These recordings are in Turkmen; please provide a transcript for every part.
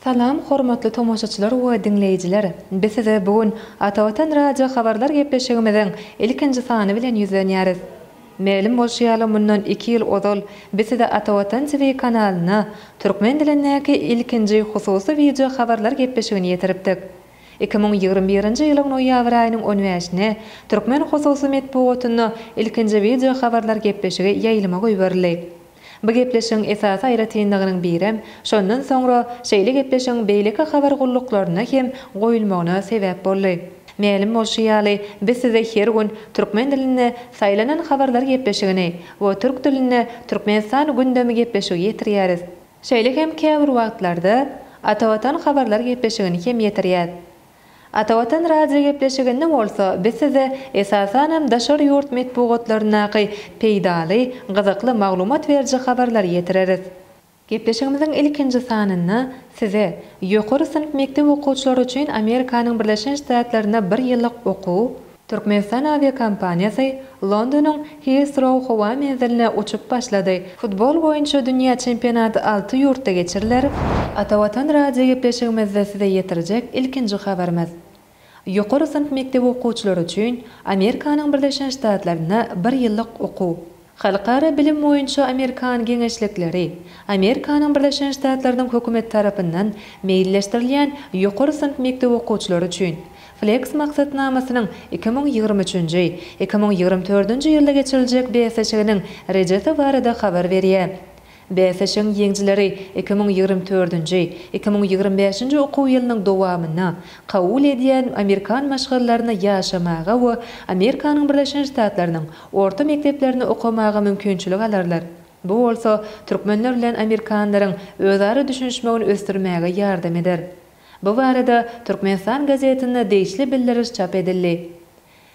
Salam hormatly tomaşaçylar we diňleýjiler! Biz size bu gün Ata Watan radio habarlar gepleşigimiziň ilkinji sany bilen ýüzlenýäris. Mälim bolşy ýaly mundan iki ýyl ozal biz size Ata Watan TV kanalynda türkmen dilindäki ilkinji hususy wideo habarlar gepleşigini ýetiripdik. Iki müň ýigrimi birinji ýylyň noýabr aýynyň on bäşine türkmen hususy metbugatynda ilkinji wideo habarlar gepleşigi ýaýlyma goýberildi. Bu gepleşigiň esasy aýratynlygynyň birem şondan soňra şeýle gepleşigiň beýleki habar gulluklaryna hem goýulmagyna sebäp boldy. Mälim bolşy ýaly, biz size her gün türkmen dilinde Saýlanan habarlar gepleşigini we türk dilinde Türkmenistan gündemi gepleşigi ýetirýäris. Şeýle hem käbir wagtlarda Atavatan habarlar gepleşigini hem ýetirýäs. Ata Watan radiogepleşiginde bolsa biz size esasanam daşary ýurt metbugatlaryndaky peýdaly, gyzykly maglumat beriji habarlary ýetireris. Gepleşigimiziň ilkinji sanynda size ýokary synp mekdep okuwçylary üçin Amerikanyň Birleşen Ştatlarynda bir ýyllyk okuw, Türkmenistan awiakompaniýasy Londonyň Hissrou howa menziline uçup başlady. Futbol boýunça dünýä çempionaty alty ýurtda geçiriler. Ata Watan radiogepleşigimizde size ýetirjek ilkinji habarymyz. Ýokary synp mekdebi okuwçylary üçin Amerikanyň Birleşen Ştatlarynda bir ýyllyk okuw. Halkara bilim boýunça amerikan geňeşlikleri, Amerikanyň Birleşen Ştatlarynyň hökümeti tarapyndan meýilleşdirilýän ýokary synp mekdep okuwçylary üçin Flex maksatnamasynyň iki müň ýigrimi üçünji, iki müň ýigrimi dördünji ýylda geçiriljek bäsleşiginiň rejesi barada habar berýär. Bäsleşigiň ýeňijileri iki müň ýigrimi dördünji, iki müň ýigrimi bäşinji okuw ýylynyň dowamynda kabul edýän amerikan maşgalalarynda ýaşamaga we Amerikanyň Birleşen Ştatlarynyň orta mekdeplerinde okamaga mümkinçilik alarlar, bu bolsa türkmenler bilen amerikanlaryň özara düşünişmegini ösdürmäge ýardam eder. Bu barada Türkmenistan gazetinde degişli bildiriş çap edildi.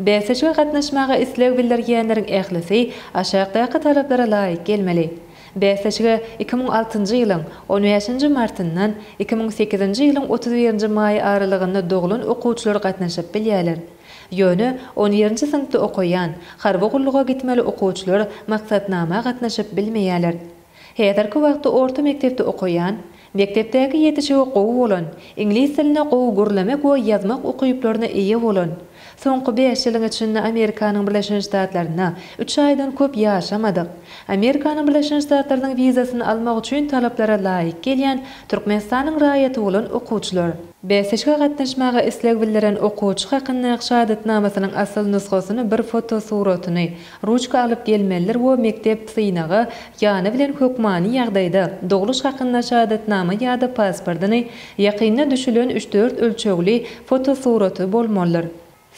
Bäsleşige gatnaşmaga isleg bildirýänleriň ählisi aşakdaky talaplara laýyk gelmeli. Bäsleşige iki müň altynjy ýylyň on bäşinji martyndan iki müň sekizinji ýylyň otuz birinji maýy aralygynda doglan okuwçylar gatnaşyp bilýärler. Ýöne on birinji synpda okaýan, harby gulluga gitmeli okuwçylar maksatnama gatnaşyp bilmeýärler. Häzirki wagtda orta mekdepde okaýan, mekdepdäki ýetişigi gowy bolan, iňlis dilini gowy gürlemek we ýazmak ukyplaryna eýe bolan, soňky bäş ýylyň içinde Amerikanyň Birleşen Ştatlarynda üç aýdan köp ýaşamadyk, Amerikanyň Birleşen Ştatlarynyň wizasyny almak üçin talaplara laýyk gelýän Türkmenistanyň raýaty bolan okuwçylar. Bäsleşige gatnaşmaga isleg bildiren okuwçy hakynda şahadatnamasynyň asyl nusgasyny bir fotosuratyny, Ruçka alyp gelmelidir we mekdep synagy ýany bilen hökmany ýagdaýda, dogluş hakynda şahadatnama ýa-da pasportyny, ýakynda düşülen üç-dört ölçegli fotosuraty bolmalydyr.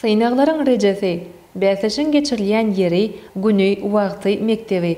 Synaglaryň rejesi, bäsleşigiň geçirilýän ýeri, güni, wagty, mekdebi.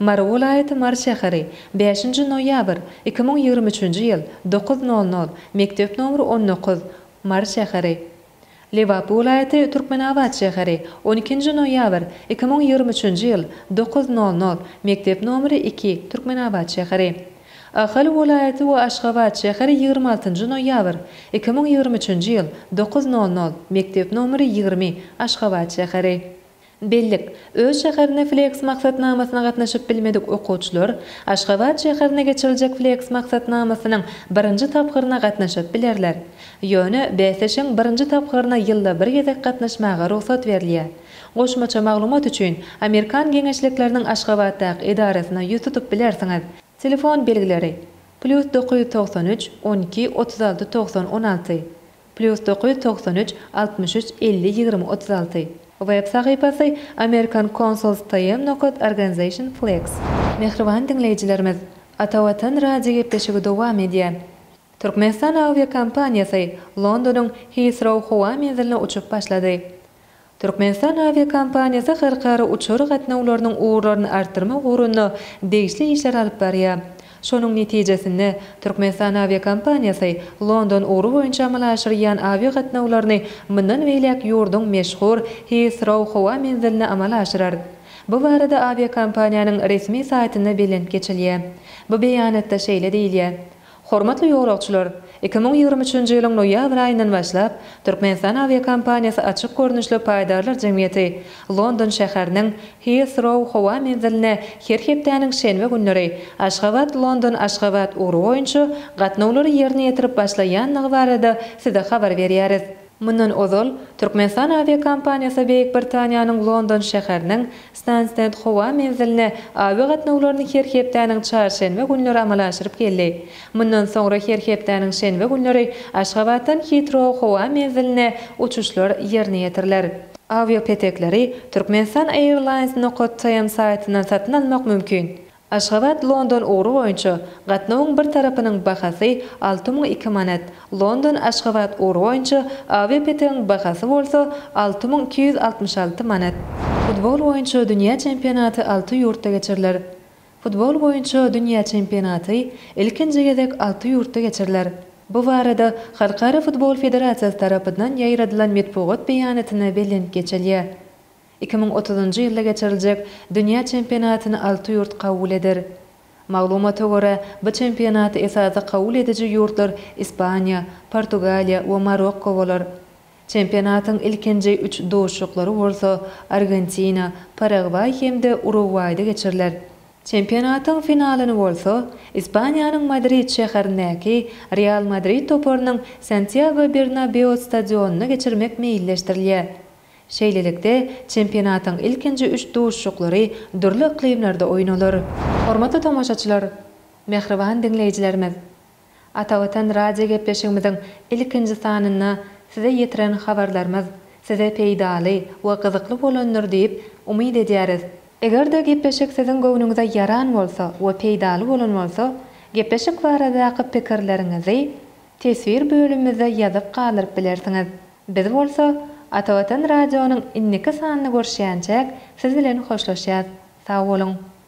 Mary welaýaty Mary şäheri, bäşinji noýabr, iki müň ýigrimi üçünji ýyl, dokuz nol nol, Mekdep nomer on dokuz, Mary şäheri. Lebap welaýaty Türkmenabat şäheri, on ikinji noýabr, iki müň ýigrimi üçünji ýyl, dokuz nol nol, Mekdep nomer iki, Türkmenabat şäheri. Ahal welaýaty we Aşgabat şäheri ýigrimi altynjy noýabr, iki müň ýigrimi üçünji ýyl, dokuz nol nol, Mekdep nomer ýigrimi, Aşgabat şäheri. Bellik, Öz şäherine FLEX maksatnamasyna gatnaşyp bilmedik okuwçylar Aşgabat şäherine geçiriljek FLEX maksatnamasynyň birinji tapgyryna gatnaşyp bilerler. Ýöne bäsleşigiň birinji tapgyryna ýylda bir gezek gatnaşmaga rugsat berilýär. Goşmaça maglumat üçin, Amerikan geňeşlikleriniň Aşgabatdaky edarasyna ýüz tutup bilersiňiz. Telefon belgileri, Plýus dokuz ýüz togsan üç, on iki, otuz alty, togsan, on alty. Plýus dokuz ýüz togsan üç, altmyş üç, elli, ýigrimi, otuz alty. Web sahypasy, American Consuls TM nokat Organization Flex. Mähriban diňleýjilerimiz, Ata Watan radio gepleşigi dowam edýär. Türkmenistan awiakompaniýasy Londonyň Heathrow howa menziline uçup başlady. Türkmenistan awiakompaniýasy halkara uçar gatnawlarynyň ugurlaryny artdyrmak ugrunda degişli işleri alyp barýar. Şonuň netijesinde, Türkmenistan awiakompaniýasy London ugry boýunça amala aşyrýan awiagatnawlaryny mundan beýläk ýurduň meşhur Hiýsrow howa menziline amala aşyrar. Bu barada awiakompaniýanyň resmi saýtynda belent geçilýär. Bu beýanatda şeýle diýilýär, Hormatly ýolagçylar! Iki müň ýigrimi üçünji ýylyň noýabr aýyndan başlap, Türkmenistan awiakompaniýasy açyk görnüşli paýdarlar jemgyýeti London şäheriniň Hiýsrow howa menziline her hepdäniň şenbe günleri Aşgabat, London, Aşgabat ugry boýunça gatnawlary ýerine ýetirip başlaýandygy barada Size habar berýäris. Mundan ozal, Türkmenistan awiakompaniýasy Beýik Britaniýanyň London şäheriniň Stanstend howa menziline awi gatnawlaryny her hepdäniň çarşenbe günleri amala aşyryp geldi. Mundan soňra her hepdäniň şenbe günleri Aşgabatdan Hitrow howa menziline uçuşlar ýerine ýetiriler. Awiapetekleri Turkmenistan Airlines nukat TM saýtyndan satyn almak mümkin. Aşgabat, London ugry boýunça gatnawyň bir tarapynyň bahasy alty müň iki manat, London, Aşgabat ugry boýunça awiapetegiň bahasy bolsa alty müň iki ýüz altmyş alty manat. Futbol boýunça dünýä çempionaty alty ýurtda geçiriler. Futbol boýunça dünýä çempionaty ilkinji gezek alty ýurtda geçiriler. Bu barada Halkara futbol federasiýasy tarapyndan ýaýradylan metbugat beýanatynda bellenip geçilýär. Iki müň otuzynjy ýylda geçiriljek dünýä çempionatyny alty ýurt kabul eder. Maglumata görä, bu çempionaty esasy kabul ediji ýurtlar Ispaniýa, Portugaliýa we Marokko bolar. Çempionatyň ilkinji üç duşuşyklary bolsa Argentina, Paragwaý hem-de Urugwaýda geçiriler. Çempionatyň finalyny bolsa Ispaniýanyň Madrid şäherindäki Real Madrid toparynyň Santýago Bernabeu stadionynda geçirmek meýilleşdirilýär. Şeýlelikde, çempionatyň ilkinji üç duşuşyklary dürli yklymlarda oýnalar. Hormatly tomaşaçylar, mähriban diňleýjilerimiz! Atavatan radiogepleşigimiziň ilkinji sanynda size ýetiren habarlarymyz size peýdaly we gyzykly bolandyr diýip umyt edýäris. Eger-de gepleşik siziň göwnüňize ýaran bolsa we peýdaly bolan bolsa, gepleşik baradaky pikirleriňizi teswir bölümimizde ýazyp galdyryp bilersiňiz. Biz bolsa Ata Watan radionyň indiki sanyny görüşýänçäk siz bilen hoşlaşýas. Sag boluň.